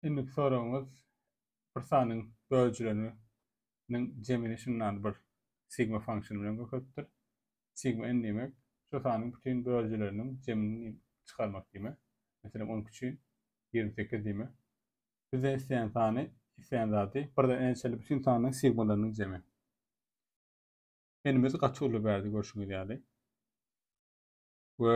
Indiki soragyňyz bir sanyň bölüjileriniň jemini şundan bir sigma function bilen köpeltdir. Sigma n diýmek şu sanyň bütin bölüjileriniň jemini çykarmak diýmek. Meselem onuňky üçin ýigrimi sekiz diýmek. Bizden isleýän sany, isleýän zady birden n-e çenli bütin sanyň sigmalarynyň jemi. N-imiz gaty uly berdi görşüňiz ýaly. We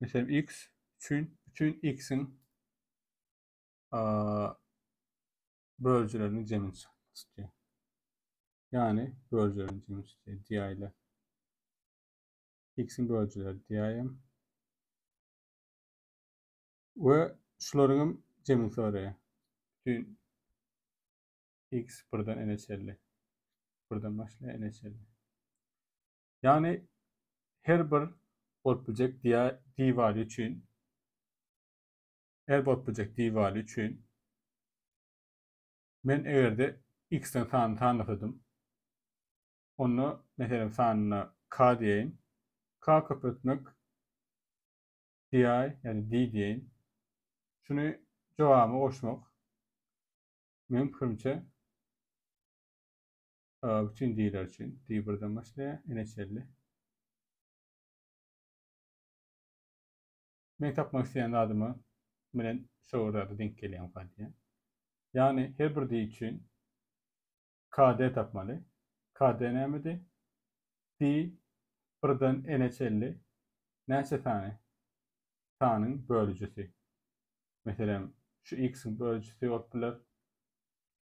Meselem, x üçin, üçin x-iň bölüjilerini jemini çykmak isteýär. Ýagny bölüjilerini jemini çykýar diýäýler. X-iň bölüjileri diýäýem. We şularyň hem jemini soraýar. Bütün x birden n-e çenli. Birden başlaýar n-e çenli. Ýagny her bir bolup biljek diwaly üçin her bolup biljek diwaly üçin men egerde x-den sanyny sanasadym onda meselem sanyna k diýeýin k köpeltmek di ýa-da di diýeýin şuny jogabyma goşmak meň pikirimçe Aga üçin diýler üçin. Diýip birden başlaýar. Ene çelli. Meň tapmak isleýän zadyma menen şo bir zada denk gelýäňka diýýär. Ýagny her bir diý üçin KD tapmaly. KD nämedi? Diý birden ene çelli näçe sany sanyň bölüjisi. Meselem, şu x-iň bölüjisi bolup biler.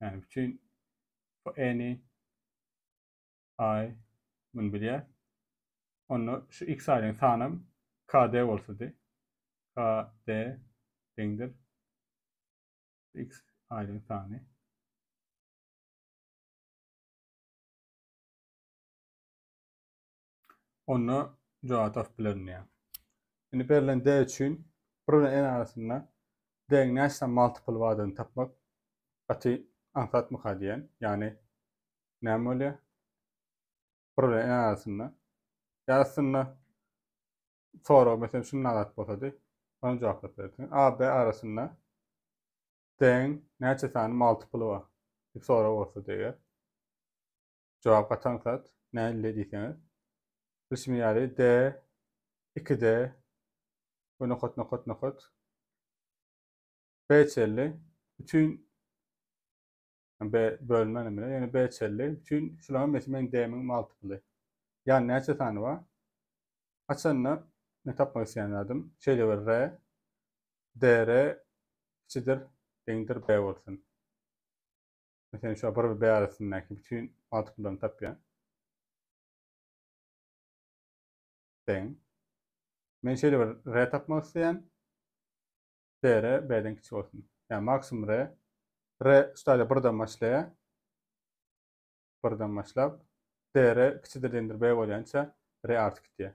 Yani bütün bu any ay bunu bilýär. Onda şu x aýdyň sanam KD bolsady. KD deňdir x aýdyň sany. onda jogap tapyp bilerin diýýär. Indi berlen D üçin bir bilen n arasynda D-iň näçe sany multiple bardygyny tapmak gaty aňsatmyka diýýän. Ýagny näme bolýar? Bir bilen n arasynda. Ýa aslynda sorag meselem şunda zat bolsady, ony jogaplap bilerdiň. A, B arasynda D-iň näçe sany multiple bar? diýip sorag bolsady eger. jogap gatan zat nälle diýseňiz, bilşim ýaly de, iki de we nokat nokat nokat B çenli bütin B bölme näme bilen, ýöne B çenli bütin şularyň hemmesi meniň D-miň multiply. Ýa näçe sany bar? Haçanda men tapmak isleýän zadym şeýle bir R, DR kiçidir, deňdir B bolsun. Meselem, şu bir bärisindäki bütin matrikalaryny tapýan. Deň. Men şeýle bir R tapmak isleýän. DR B-den kiçi bolsun. Yani maksimum R. R stadiýa birden başlaýar. Birden başlap DR kiçidir deňdir B bolýança R artyp gitýär.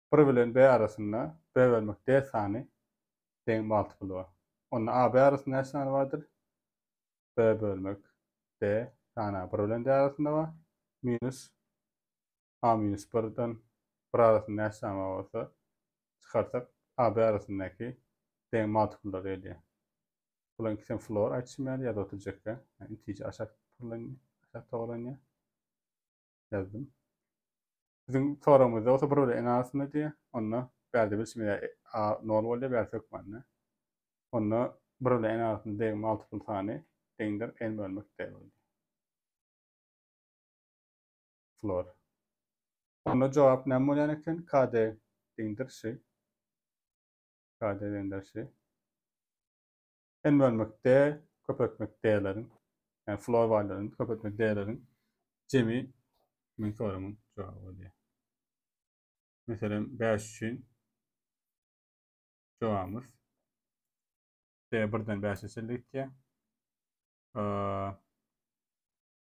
Bir bilen B arasynda B bölmek D sany deň bagtpylyga. Onda A, B arasynda näçe sany bardyr? B bölmek D sany A bir bilen D arasynda bar. Minus A minus birden bir arasynda näçe sany bar bolsa, çykarsak A, B arasyndaky deň magtpyllar gelýär. Bularyň ikisem floor aýtşym ýaly ýazyp oturjak ýa. Ýa intije aşak pyrlanýar, aşak togalanýar. ýazdym. Siziň soragyňyzda bolsa bir bölegiň asyny diýýär. Onda bärde bir çeme ýa a nol bolýar, bärsi hökmany. Onda bir bölegiň asyny degme multipl sany deňdir n bölmek d bolýar. Flor. Onda jogap näme bolýan eken? KD deňdir ş. KD deňdir ş. hem bölmekde köpeltmek däleriň, ýa flor waýlaryň köpeltmek däleriň jemi men sorumyň jogaby bolýar. Meselem 5 üçin jogabymyz D birden 5-e çenli gitýär.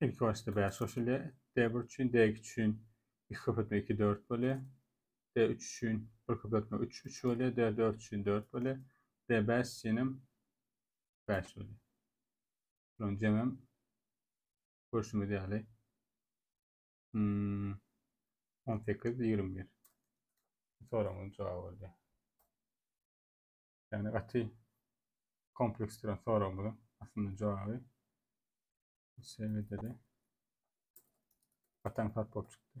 Ilki başda bäş goşulýar. D1 üçin, D2 üçin iki köpeltme iki, dört bolýar. D3 üçin bir köpeltme üç, üç bolýar. D4 üçin dört bolýar. D5 üçin hem bäş bolýar. Şunuň jemem görşümiz ýaly hmm, on sekiz, ýigrimi bir. Soragyň jogaby bolýar. Yani gaty kompleks duran soragymyzyň aslynda jogaby bu şekilde de gatan sat bolup çykdy.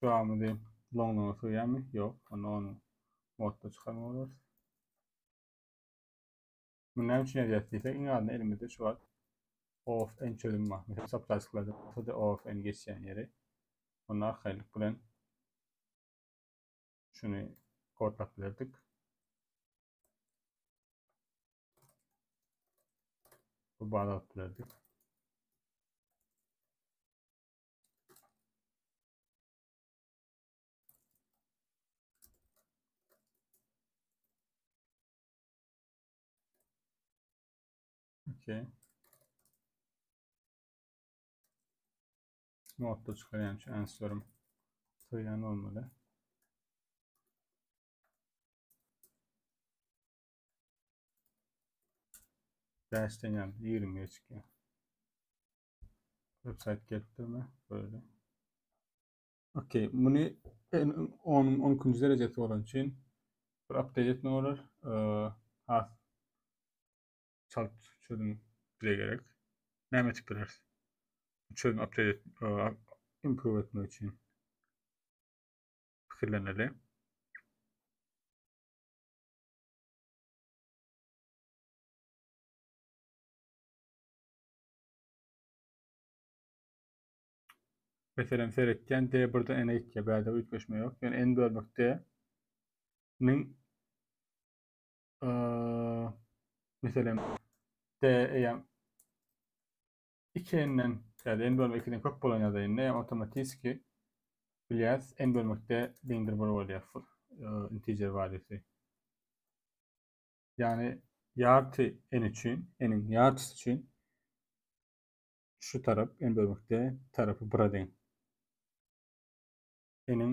Şuramyzy loňlugyna sygýarmy? Ýok. Onda ony modda çykarmaly bolarys. Bu näme üçin ýazýarys diýsek, iň azyndan elimizde şu wagt OFN çözüm bar. Mesela çapda açyklarda OFN geçýän ýeri. Onda arkaýynlyk bilen Şuny kodlap berdik. Bu baza alyp berdik. Okay. modda çykarýan şu answerim söýen olmaly. Dash degen 20 geçki. Website gelip durma böyle. Okey, bunu 10 12 derecesi bolan üçin bir update etme bolar. Ee, has çalt çözüm bize gerek. Näme etip bileris? Bu çözüm update et, improve etmek üçin fikirleneli. Meselen, seretýän D1-de N-e gitýär, bärde üýtgeşme ýok. Ýöne N bölmek D-niň meselem d eýem 2n-den ýa-da n bölme 2-den köp bolan ýagdaýynda eýem yani otomatiski bilýäs n bölmekde deňdir bir bolýar full integer wadiýsy. Ýagny ýarty n üçin, n-iň ýartysy üçin şu tarap n bölmekde tarapy 1-e deň. N-iň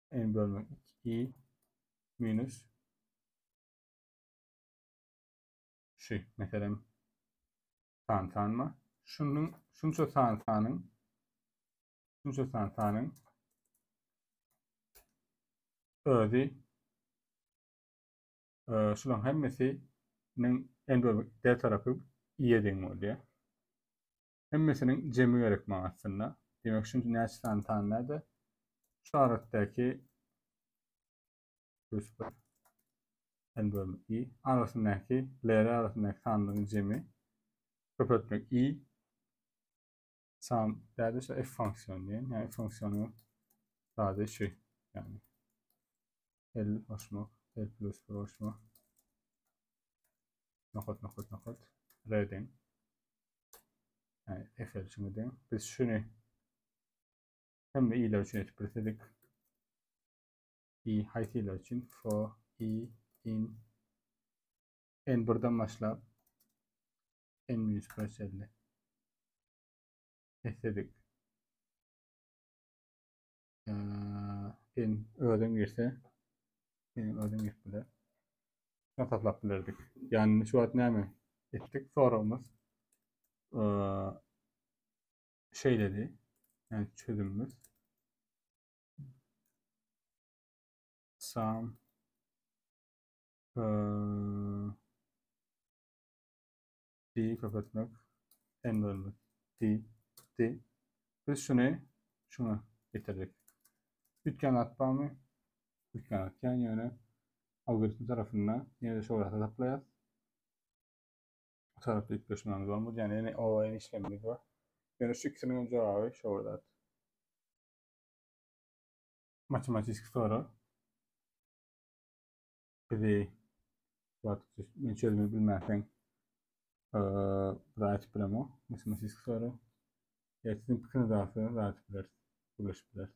n bölünen 2 i minus şu meselem san sanma şunun şunça san sanyn şunça san sanyn özi e, şulan hemmesiniň n bölünen d tarafy i'ye deň bolýar. Hemmesiniň jemi gerek maňa aslynda. Demek şunça näçe sany san näde? Şu aratdaki plus 1 n bölmek i arasyndaky lere arasyndaky sanlaryň jemi köpeltmek i sam däde şu f funksiýony diýen ýa f funksiýony sade şu ýagny l goşmak l plus bir goşmak nokat nokat nokat reden Yani Excel için de biz şunu hem de iyiler için etip bilsedik. İyi hayt iyiler için for i in en birden başlap en minus perselli etsedik. Sen özün girse, sen özün girip bile. Sen tatlap bilerdik. Yani şu wagt näme ettik soragymyz. Şey dedi. Yani çözümümüz. Sam. Ee, Di köpeltmek, n bölmek. Di, di. Biz şuny şuňa getirdik. Üýtgän zat barmy? Üýtgän zat kän, ýöne algoritm tarapynda ýene-de şol zady taplaýarys. Bu tarapda üýtgeşmelerimiz bolmady, ýagny ýene o ýene işlemimiz bar. Ýöne şu ikisiniň hem jogaby şo bir zat. Matematiki soraw. Bizi men çözmegi bilmäseň raýat ee, bilemok. Matematik soru. Ertiň pikrini dagsa raýat bileris. Gürleşip bileris.